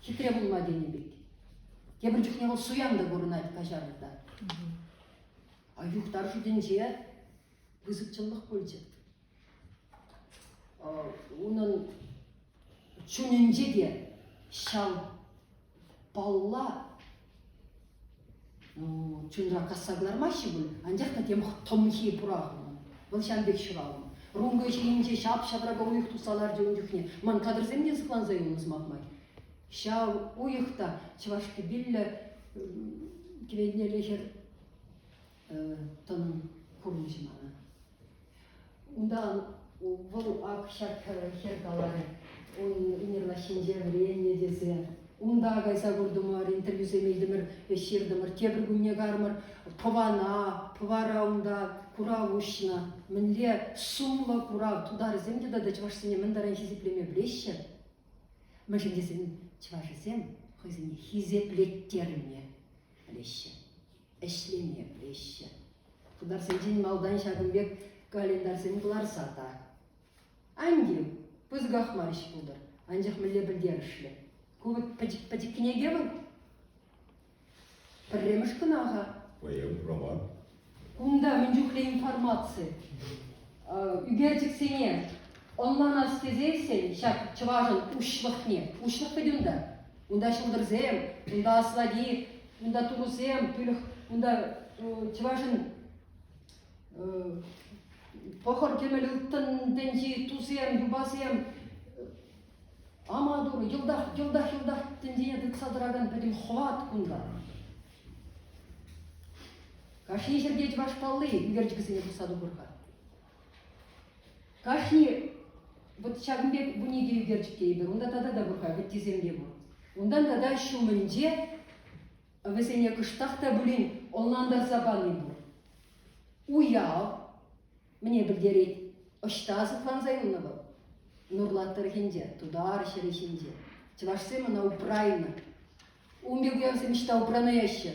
хитре пулма тенӗ пек. Тепӗр чухне вӑл суян та курӑнать каҫарӑвта. А юхташу тӗнче пысӑк чӑнлӑх пулчӗ. Унӑн чунӗнче те ҫав палла Чунра касса кӑлармаҫҫӗ пуль, анчах та тем тӑмхи пурахнӑ. Вӑл ҫав пек ҫуралнӑ. Рункӑ ҫийӗнче ҫап-ҫатрака уйӑх тухса ларчӗ ун чухне. Ман кадрсем те сыхланса юлнӑ сӑмах май. Ҫав уйӑх та чӑваш кӗпиллӗ кӗвелнелле хӗр тӑнӑ курӑнчӗ мана. Унтан вӑл ак ҫак хӗр каларӗ, ун лаҫҫинче вӗреннӗ тесе. Унта кайса куртӑмӑр, интервьюсем илтӗмӗр, ӗҫ ҫыртӑмӑр. Тепӗр кунне кармӑр тӑвана, Пӑвара унта курав уҫнӑ. Мӗнле сумлӑ курав, тутарӗсем те тата чӑвашсене мӗн таран хисеплеме пӗлеҫҫӗ. Мӗншӗн тесен чӑвашӗсем хӑйсене хисеплеттерме пӗлеҫҫӗ. ӗҫлеме пӗлеҫҫӗ. Хыпарсенчен малтан ҫакӑн пек календарьсем кӑларса та. Ан тив, пысӑках мар ӗҫ пултӑр, анчах мӗнле пӗлтерӗшлӗ. Ку вӑт пӗчӗк пӗчӗк кӗнеке вӑл. Пӗрремӗш кӑна-ха. Паян роман. Кунта мӗн чухлӗ информаци. Ӳкерчӗксене ӑнланас тесессӗн ҫак чӑвашӑн уҫлӑхне, уҫлӑх пӗтӗм та, Унта ҫӑлтӑрсем, унта аславит, унта турусем, пилӗх, унта чӑвашӑн пӑхӑр кӗмӗл ылтӑн тӗнчи тусем, юпасем, аматур, йӑлтах, йӑлтах, йӑлтах тӗнчене тытса тӑракан пӗтӗм хӑват кунта. Кашни ҫӗрте чӑваш палли ӳкерчӗкӗсене пухса тухӑр-ха. Кашни вот ҫакӑн пек вунике ӳкерчӗк тейӗпӗр, унта тата та пур-ха вӗттисемпе пур. Унтан тата ҫумӗнче вӗсене кӑштах та пулин ӑнлантарса пани пур. Уяв мне пӗлтерет, ӑҫта сыхланса юлнӑ вӑл? Нурлат тӑрӑхӗнче, Тутар ҫӗрӗ ҫинче. Чӑвашсем ӑна упрайнӑ. Ун пек уявсем ӑҫта упранаҫҫӗ?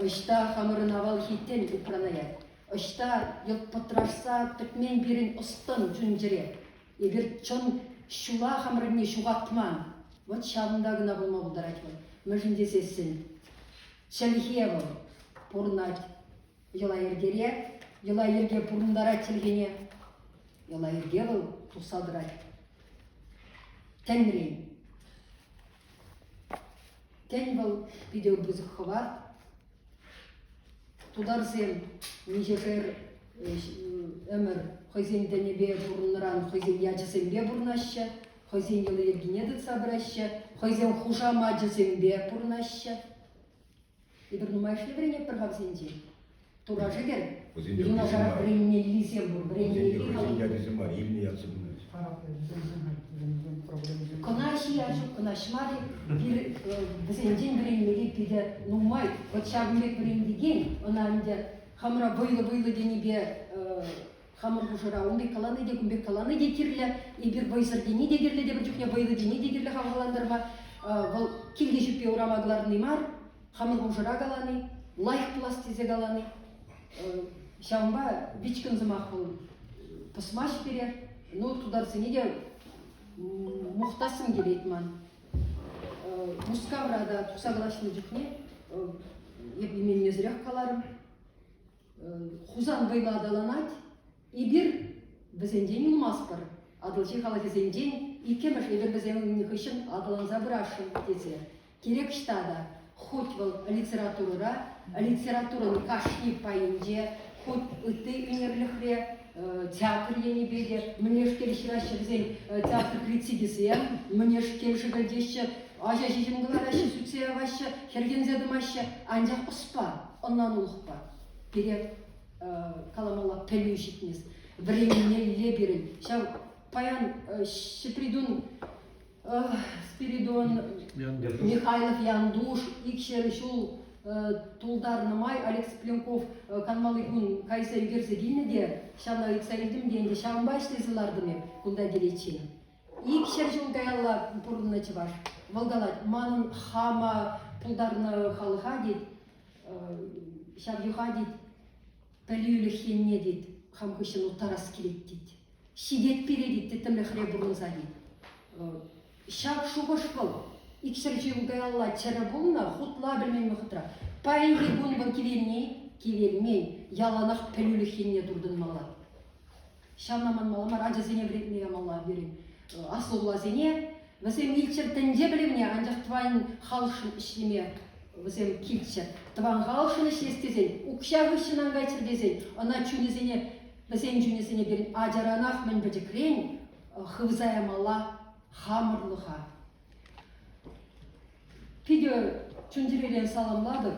Ӑҫта хамӑрӑн авалхиттен упранаять? Ӑҫта йӑлт пӑтрашса пӗтмен пирӗн ӑс-тӑн чун-чӗре? Эпир чӑн ҫула хамӑрӑнне ҫухатман. Вӑт ҫавӑнта кӑна пулма пултарать вӑл. Мӗншӗн тесессӗн чӗлхе вӑл пурӑнать йӑла-йӗркере, йӑла-йӗрке пурӑнтарать чӗлхене, йӑла-йӗрке вӑл тусса тӑрать Тӗнрен. Тен, вӑл питӗ пысӑк хӑва. Тутарсем миҫӗшер ӗмӗр хӑйсен тӗнӗпе пурӑннӑран хӑйсен ячӗсемпе пурӑнаҫҫӗ, хӑйсен йӑли-йӗркине тытса пыраҫҫӗ, хӑйсем хушамачӗсемпе пурӑнаҫҫӗ. Эпир нумайӑшне вӗренетпӗр хавсенчен. Тура шӗкӗр, юнашарах вӗренмеллисем пур, вӗренмелли Хӑйсен ячӗсем мар, илнӗ ятсем Кӑнаҫ-и, Аҫук, кӑнаҫ мар-и, пир, вӗсенчен вӗренмелли питӗ нумай. Вот ҫакӑн пек вӗрентекен, ӑна ӗнтӗ хамӑра вӑйлӑ-вӑйлӑ тенипе Хамӑр хушӑра унти калани те кун пек калани те кирлӗ. Эпир вӑйсӑр тени те кирлӗ, тепӗр чухне вӑйлӑ тени те кирлӗ хавхалантарма. Вӑл килте ҫӳппе урама кӑларни мар, хамӑр хушӑра калани, лайӑх пулас тесе калани. Ҫавӑнпа вичкӗн сӑмах вӑл пӑсмасть пире. Ну, тутарсене те мухтассым килет ман. Мускавра та тухса калаҫнӑ чухне эп именмесӗрех каларӑм. Хусанкайпа аталанать. Эпир вӗсенчен юлмастпӑр. Атӑлҫи халӑхӗсенчен иккӗмӗш эпир вӗсен хыҫҫӑн аталанса пырасшӑн тесе кирек ӑҫта та хуть вӑл литературӑра, литературӑн кашни пайӗнче, хуть ытти ӳнерлӗхре театр енӗпе те мӗнешкел хираҫҫӗ вӗсен театр критикӗсем, мӗнешкел шӗкӗлтеҫҫӗ, ача ҫиҫӗм кӑлараҫҫӗ, сӳтсе яваҫҫӗ, хӗрхенсе тӑмаҫҫӗ. Анчах ӑспа, ӑнланулӑхпа пире каламалла пӗлӳ ҫитмест. Вӗренӳне иле пирӗн. Ҫав паян Ҫӗпритун Спиридон, Михайлов Янтуш икҫӗр ҫул тултарнӑ май Олег Цыпленков канмалли кун кайса ӳкерсе килнӗ те ҫавна ыйтса илтӗм те ӗнтӗ ҫавӑнпа ӗҫлесе лартӑм эп кунта киличчен. Икҫӗр ҫул каялла пурӑннӑ чӑваш. Вӑл калать, манӑн хама пултарнӑ халӑха тет, ҫав йӑха тет, пӗлӳлӗх енне тет, хам хыҫҫӑн уттарас килет тет. Ҫитет переди тӗттӗмлӗхре пурӑнса-и? Ҫак шухӑш вӑл икҫӗр ҫул каялла чӗрӗ пулнӑ, хутла пӗлмен вӑхӑтра. Паянхи кун вӑл кивелни, кивелмен, яланах пӗлӳлӗх енне туртӑнмалла. Ҫавна манмалла мар, ачасене вӗрентме ямалла пирӗн аслӑлласене. Вӗсем илччӗр тӗнче пӗлӗвне, анчах тӑван халӑхшӑн ӗҫлеме вӗсем килччӗр. Тӑван халӑхшӑн ӗҫлес тесен, укҫа хыҫҫӑн ан кайччӑр тесен, ӑна чунӗсене Вӗсен чунӗсене пирӗн ачаранах мӗн пӗчӗкрен хывса ямалла хамӑрлӑха. Питӗ чун-чӗрере саламлатӑп.